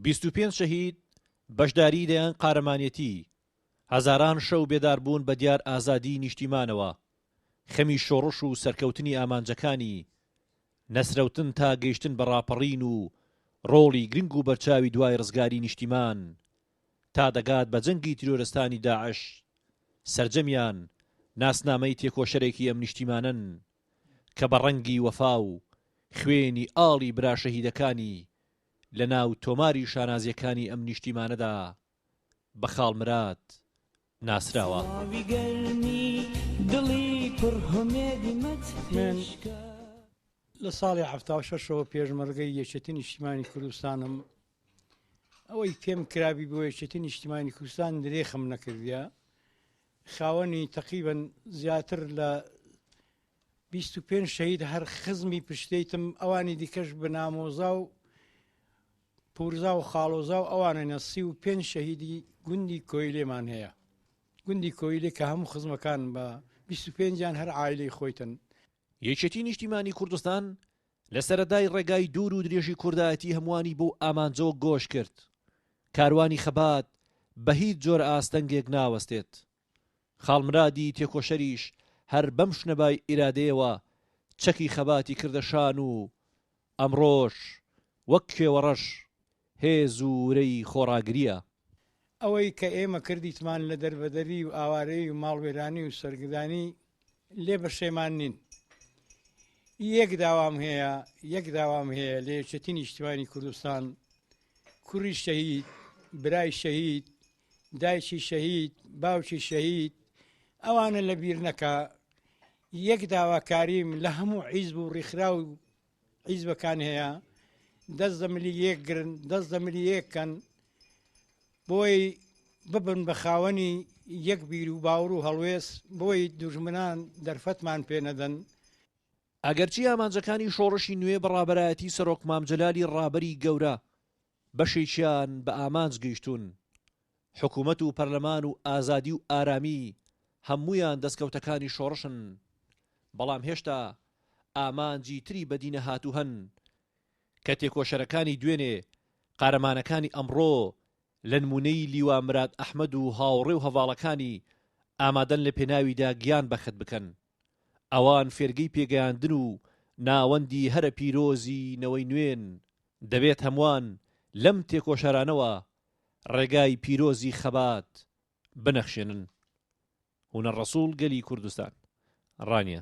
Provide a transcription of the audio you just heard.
بیست و پێنج شەهید، بەشداریی دەیان قارەمانێتی، هەزاران شەو بێداربوون بە دیار ئازادیی نیشتیمانەوە، خەمی شۆڕش و سەرکەوتنی ئامانجەکانی، نەسرەوتن تا گەیشتن بە ڕاپەڕین و ڕۆڵی گرنگ و بەرچاوی دوای ڕزگاری نیشتیمان تا دەگات بە جەنگی تیرۆرستانی داعش، سەرجەمیان ناسنامەی تێکۆشەرێکی ئەم نیشتیمانەن کە بە ڕەنگی وەفا و خوێنی ئاڵی برا شەهیدەکانی لە ناو تۆماری شانازیەکانی ئەم نیشتیمانەدا بە خاڵ مراد ناسراوە. لە ساڵی حەفتا و شەش ەوە پێشمەرگەی یەکێتی نیشتیمانی کوردستانم ئەوەی پێم کرابی بۆ یەکێتی نیشتیمانی کوردستان درێخم نەکردە خاوەنی تەقیبن زیاتر لە بیست و پێنج شەهید هەر خزمی پشتیتم ئەوانی دیکەش بە نامۆزا و پورزا و خاڵۆزا و ئەوانەنە سی و پێنج شەهیدی گوندی کۆیلێمان هەیە گوندی کۆیلێک کە هەموو خزمەکان بە بیست و پێنجیان هەر عیلی خۆیتن یەکێتی نیشتیمانی کوردستان لە سەرەدای ڕێگای دوور و درێژی کوردایەتی هەمووانی بۆ ئامانجەوە گۆش کرد کاروانی خەبات بە هیچ جۆرە ئاستەنگێک ناوەستێت خاڵ مرادی تێکۆشەریش هەر بەم شنەبای ئیرادەیەوە چەکی خەباتی کردە شان و ئەمڕۆش وەک کێوەڕەش هێز و ورەی خۆڕاگرییە. ئەوەی کە ئێمە کردیتمان لە دەربەدەری و ئاوارەیی و ماڵوێرانی و سەرگدانی لێ بەشێمان نین. یەک داوام هەیە، یەک داوام هەیە لە یەکێتی نیشتیمانی کوردستان، کوڕی شەهید، برای شەهید، دایکی شەهید، باوکی شەهید ئەوانە لە بیر نەکا یەک داواکاریم لە هەموو عیزب و ڕیخرا و عیزبەکان هەیە دەست دە ملی یەک گرن دەست دە ملی یەکەن بۆی ببن بە خاوەنی یەک بیر و باوڕ و هەڵوێز بۆی دوژمنان دەرفەتمان پێ نەدەن ئەگەرچی ئامانجەکانی شۆڕشی نوێ بە ڕابەرایەتی سەرۆک مام جەلالی ڕابەری گەورە، بەشێکیان بە ئامانج گەیشتوون. حکوومەت و پەرلەمان و ئازادی و ئارامی هەموویان دەستکەوتەکانی شۆڕشن. بەڵام هێشتا ئامانجی تری بەدینەهاتوو هەن کە تێکۆشەرەکانی دوێنێ، قارەمانەکانی ئەمڕۆ لە نموونەی لیوا مراد ئەحمەد و هاوڕێ و هەڤاڵەکانی ئامادەن لە پێناویدا گیان بەخت بکەن. ئەوان فێرگەی پێگەیاندن و ناوەندی هەرە پیرۆزی نەوەی نوێن، دەبێت هەمووان لەم تێکۆشەرانەوە ڕێگای پیرۆزی خەبات بنەخشێنن. هونەر ڕەسوڵ گەلی کوردستان. ڕانیە.